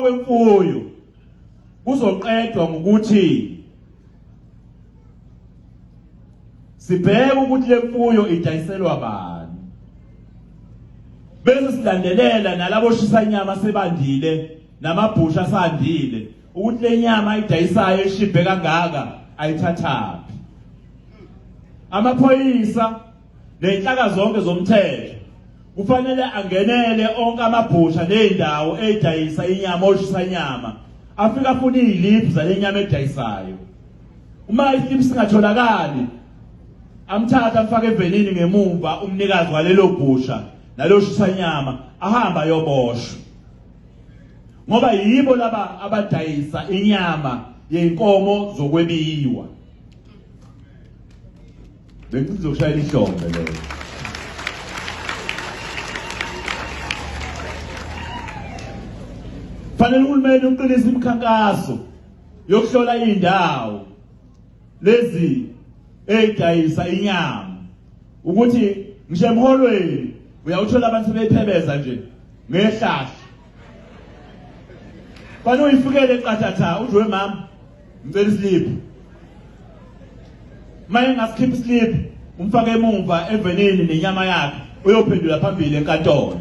kwemfuyo kuzoqedwa ngokuthi sibheke ukuthi le mfuyo idayiselwa bani bese silandelela nalabo shisa inyama sebandile namabhusha asandile ukuthi le nyama ayidayisayo eshibhe kangaka ayithathaphi amaphoyisa Nezinhlaka zonke zomthetho kufanele angenele onke amabhusha nezindawo edayisa inyama oshisa inyama afika afuna iziliphu zalenyama edayisayo uma isiliphu singatholakali amthatha amfake evenini ngemumva umnikazi walelo bhusha naloshisa inyama ahamba yoboshwa ngoba yibo laba abadayisa inyama yenkomo zokwebiwa Bengizoshayela ihlombe leyo. Fanele uhulumeni uqinise imikhankaso yokuhlola indawo lezi edayisa inyama ukuthi ngisho emholweni uyawuthola abantu bephebeza nje ngehlahla Fanele uyifikele eqathatha udwe mama ngicela islip maye ngasikhipha islip umfake emumva evenini nenyama yakhe uyophendula phambili enkantolo